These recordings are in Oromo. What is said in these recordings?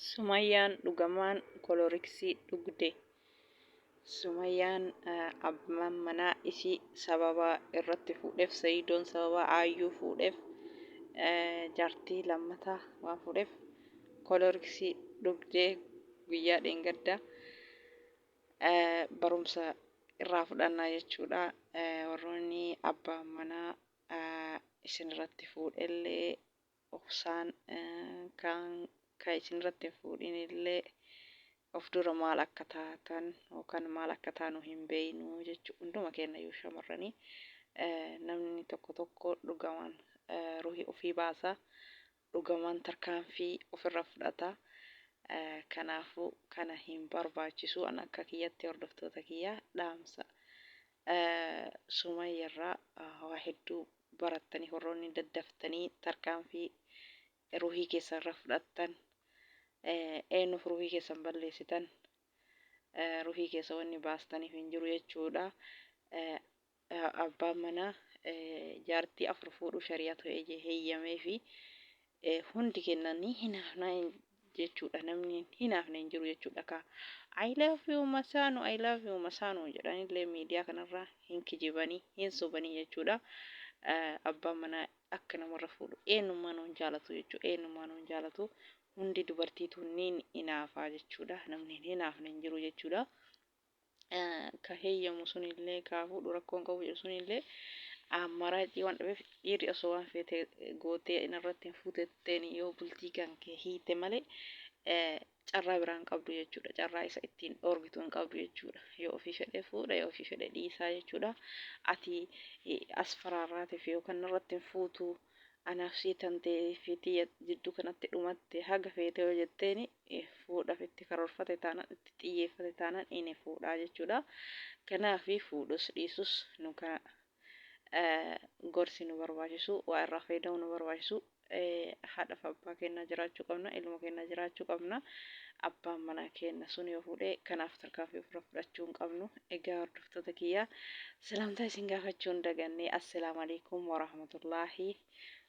Sumayyaan dhugamaan koloriksii dhugde. Sumayyaan abbaan manaa isii sababa irratti fuudheef Sayidoon sababa aayyuu fuudheef jaartii lammataa waan fuudheef koloriksii dhugdee guyyaa dheengadda barumsa irraa fudhannaa jechuudha. Warroonni abbaan manaa isin irratti fuudhellee dhoksaan kaan kan isin irratti hin fuudhin illee of dura maal akka taatan yookaan maal akka taanu hin beeknu jechu hunduma keenna iyyuu shamarranii namni tokko tokko dhugamaan ruhii ofii baasa dhugamaan tarkaanfii of irra fudhata kanaafuu kana hin barbaachisu an akka kiyyatti hordoftoota kiyya dhaamsa sumayya irraa waa hedduu barattanii horroonni daddaftanii tarkaanfii ruhii keessan irra fudhattan eenyuuf ruhii keessan balleessitan ruhii keessa wanni baastaniif hin jiru jechuudha abbaan manaa jaartii afur fuudhuu shari'atu eje heeyyamee fi Hundi keenna ni hinaafna jechuudha namni hin hinaafne hin jiru jechuudha kaa I love you masaanu I love you masaanu jedhanillee miidiyaa kanarra hin kijibanii hin sobanii jechuudha abbaan manaa akka namarra fuudhu eenyummaanuu hin jaalatu jechuudha eenyummaanuu hin jaalatu hundi dubartiitu ni hinaafaa jechuudha namni hin hinaafne hin jiru jechuudha ka heeyyamu sunillee ka fuudhu rakkoon qabu jedhu sunillee amaraacii waan dhabeef dhiirri osoo waan feete gootee inarratti hin fuutetteen yoo bultii kan kee hiite malee carraa biraa hin qabdu jechuudha. Carraa isa ittiin dhoorgitu hin qabdu jechuudha. Yoo ofii fedhe fuudha yoo ofii fedhe dhiisaa jechuudha. Ati as faraarraatiif yookaan narratti hin fuutu Anaaf sii tante fi tiyya jidduu kanatti dhumatte haga feete yoo jetteeni fuudhaf itti karoorfate taanan itti xiyyeeffate taanan ini fuudhaa jechuudha. Kanaafi fuudhus dhiisus nu kana gorsi nu barbaachisu waa irraa fayyadamu nu barbaachisu haadhaf abbaa keenna jiraachuu qabna ilma keenna jiraachuu qabna abbaan manaa keenna sun yoo fuudhe kanaaf tarkaanfii ofirra fudhachuu hin qabnu egaa hordoftoota kiyya salaamtaa isin gaafachuu hin daganne assalaamu alaikum warahmatullaahi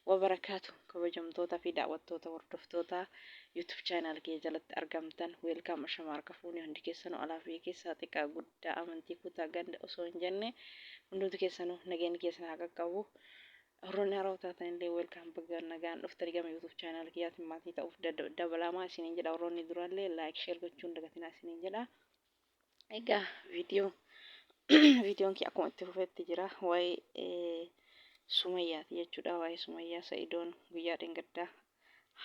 wabarakaatu kabajamtoota fi daawwattoota hordoftoota youtube channel kiyya jalatti argamtan weelkaam ashama harka fuuni hundi keessanuu alaa fi keessaa xiqqaa guddaa amantii kutaa ganda osoo hin jenne hundumti keessanuu nageenyi keessan haa qaqqabu Warroonni haarawa taatan illee welcome baga nagaan dhuftani gama youtube channel kiyyaatiin maatii ta'uuf dabalaamaa isiniin jedha warroonni duraa illee like share gochuun dagatinaa isiniin jedha egaa viidiyoo viidiyoon kee akkuma itti fufetti jira waa'ee sumayyaati jechuudha waa'ee sumayyaa sa'idoon guyyaa dheengaddaa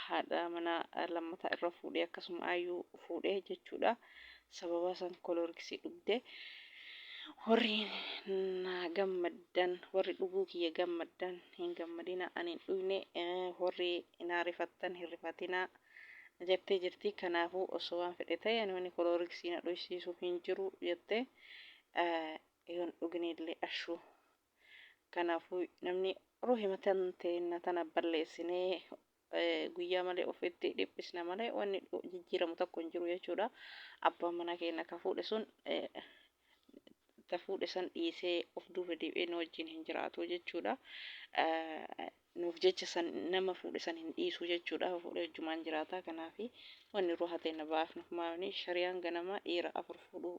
haadha manaa lammataa irra fuudhee akkasuma ayyuu fuudhee jechuudha. Sababa san koloorgisii dhugde. Warri na gammaddan warri dhuguu kiyya gammaddan hin gammadina ani hin dhugne warri na rifattan hin rifatina jettee jirti. Kanaafuu osoo waan fedhe ta'e ani wanni koloorgisii na dhuysiisu hin jiru jettee yoon dhugnillee ashuu Kanaafu namni ruhima teenna tana balleessinee guyyaa malee ofitti dhiphisna malee wanni jijjiiramu tokko hin jiru jechuudha. Abbaan manaa keenna ka fuudhe sun ta fuudhe san dhiisee of duuba deebi'ee nu wajjiin hin jiraatu jechuudha. Nuuf jecha san nama fuudhe san hin dhiisu jechuudha. Fuudhee wajjumaan jiraata. Kanaafi wanni ruha teenna baafnu maafni shariyaan ganama dhiira afur fuudhuu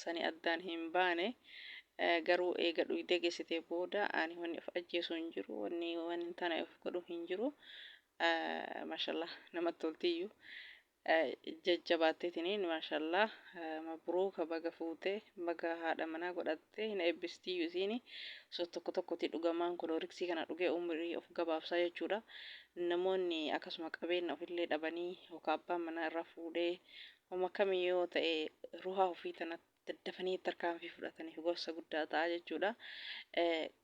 sani addaan hin baane garuu eega dhuyde gesite booda ani wanni of ajjeesu hin jiru wanni waan hin taane of godhu hin jiru mashallah namatti toltiyyu jajjabaatteetiniin mashallah mabruuka baga fuute baga haadha manaa godhatte hin eebbistiyyu isiini so tokko tokkoti dhugamaan kolooriksii kana dhugee umrii of gabaabsaa jechuudha namoonni akkasuma qabeenna ofillee dhabanii yookaan abbaan manaa irraa fuudhee Homa kami yoo ta'e ruhaa ufii tana daddafanii tarkaanfii fudhataniif gorsa guddaa ta'a jechuudha.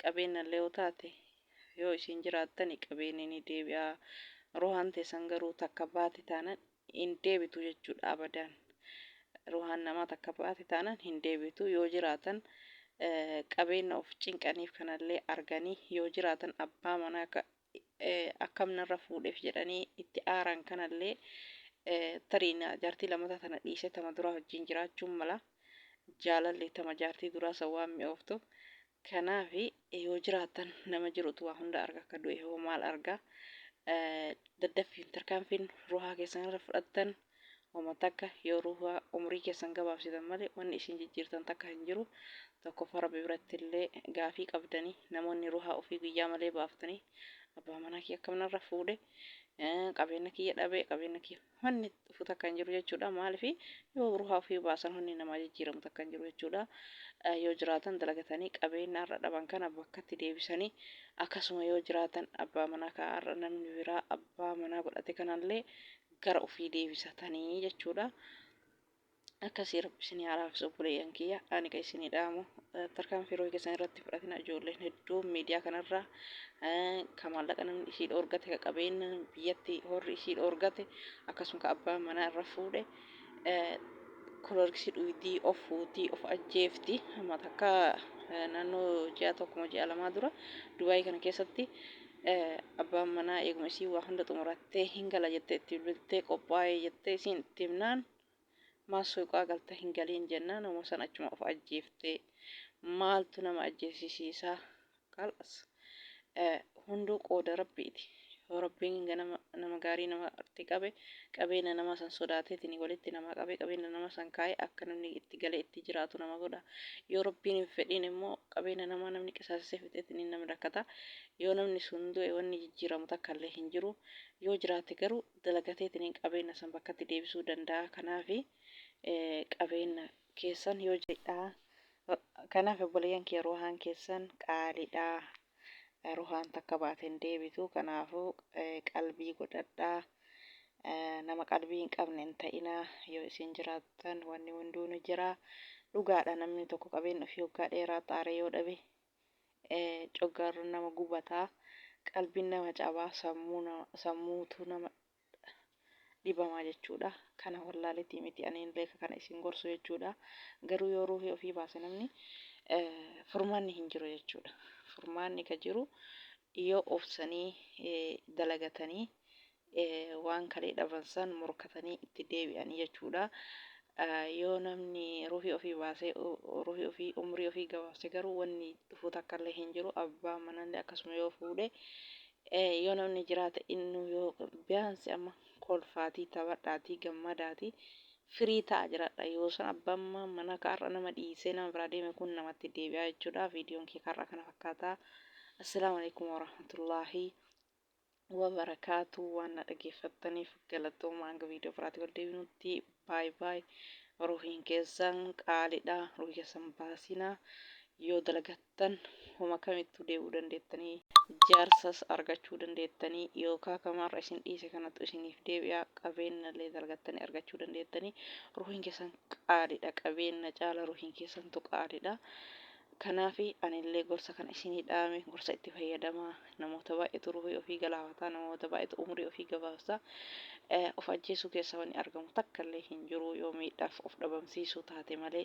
Qabeennallee yoo taate yoo isiin jiraattani qabeenni ni deebi'a. Ruhaan teessan garuu takka baate taanan hin deebitu jechuudha abadaan. Ruhaan namaa takka baate taanan hin deebitu. Yoo jiraatan qabeenna of cinqaniif kanallee arganii yoo jiraatan abbaa manaa ka akkam narra fuudheef jedhanii itti aaran kanallee tarii jaartii lammataa tana dhiisee tama duraa wajjin jiraachuun mala jaalalli tama jaartii duraa san waan mi'ooftu kanaaf yoo jiraatan nama jirutu waa hunda arga akka du'e hoo maal arga daddaffiin tarkaanfiin ruhaa keessan irra fudhattan Homa takka yoo ruuhaa umrii keessan gabaabsitan malee wanni isiin jijjiirtan takka hin jiru. Tokkoffaa Rabbi birattillee gaafii qabdani. Namoonni ruuhaa ufii guyyaa malee baaftanii abbaa manaa kiyya akkam narra fuudhe, qabeenna kiyya dhabe, qabeenna kiyya wanni dhufu takka hin jiru jechuudha. Maalifi yoo ruuhaa ufii baasan wanni namaa jijjiiramu takka hin jiru jechuudha. Yoo jiraatan dalagatanii qabeenna har'a dhaban kana bakkatti deebisanii akkasuma yoo jiraatan abbaa manaa ka har'a namni biraa abbaa manaa godhate kanallee gara ufii deebisatanii jechuudha. Akkasii rabbi isinii haa laaffisu obboleeyyan kiyya ani ka isinii dhaamu tarkaanfii rohi keessan irratti fudhatina ijoolleen hedduun miidiyaa kanarraa ka maallaqa namni ishii dhoorgate ka qabeenya biyyatti horri ishii dhoorgate akkasuma ka abbaan manaa irra fuudhe kolorgisii dhuydii of fuutii of ajjeefti amma takka naannoo ji'a tokkuma ji'a lamaa dura dubaayii kana keessatti Abbaan manaa eeguma isiin waa hunda xumurattee hin gala jettee itti bilbiltee qophaa'ee jettee isiin itti himnaan maal suuqaa galta hin galiin jennaan uma san achuma of ajjeeftee maaltu nama ajjeesisiisaa kalas hunduu qooda rabbiiti yoo rabbiin ganama nama gaarii nama irratti qabe qabeena nama san sodaateetini walitti nama qabe qabeena nama san kaaye akka namni itti gale itti jiraatu nama godha yoo rabbiin hin fedhiin immoo qabeena namaa namni qisaasise fixeetini namni rakkata yoo namni sun du'e wanni jijjiiramu takkallee hin jiru yoo jiraate garuu dalagateetini qabeena san bakkatti deebisuu danda'a kanaafi qabeena keessan yoo jedha kanaaf obboleeyyan kiyya ruuhaan keessan qaalidha. ruhaan takka baate hin deebitu kanaafuu qalbii godhadhaa nama qalbii hin qabne hin ta'inaa yoo isin jiraattan wanni hunduu ni jira dhugaadha namni tokko qabeen ofii hoggaa dheeraa xaaree yoo dhabe coggaarroon nama gubataa qalbiin nama cabaa sammuutu nama dhibamaa jechuudha kana wallaaletii miti aniin leeka kana isin gorsu jechuudha garuu yoo ruuhii ofii baase namni furmaanni hin jiru jechuudha furmaanni ka jiru yoo obsanii dalagatanii waan kalee dhabansan morkatanii itti deebi'anii jechuudha yoo namni ruuhii ofii baasee ruuhii ofii umrii ofii gabaabse garuu wanni dhufuu takkallee hin jiru abbaa manallee akkasuma yoo fuudhe Ee yoo namni jiraate innuu yoo biyaansi amma kolfaatii taphadhaatii gammadaatii firii ta'a jiradha yoo san abbaan ma- mana ka har'a nama dhiisee nama biraa deeme kun namatti deebi'aa jechuudha viidiyoon kee har'a kana fakkaata assalaamu alaikum warahmatullaahi wabarakaatu waan na dhageeffattaniif galatooma hanga viidiyoo biraatti wal deebinutti baay baay ruhiin keessan qaalidha ruhii keessan baasinaa yoo dalagattan tan homa kamittuu deebi'uu dandeettanii, jaarsas argachuu dandeettanii, yookaa kama har'a isin dhiise kanattu isiniif deebi'a, qabeennallee dalgattanii argachuu dandeettanii, ruuhiin keessan qaaliidha, qabeenna caala ruuhiin keessantu qaaliidha. Kanaafi anillee gorsa kana isinii dhaame, gorsa itti fayyadamaa, namoota baay'eetu ruuhii ofii galaafataa, namoota baay'eetu umrii ofii gabaabsaa, of ajjeesuu keessaa wanni argamu takkallee hin jiruu, yoo miidhaaf of dhabamsiisuu taate malee,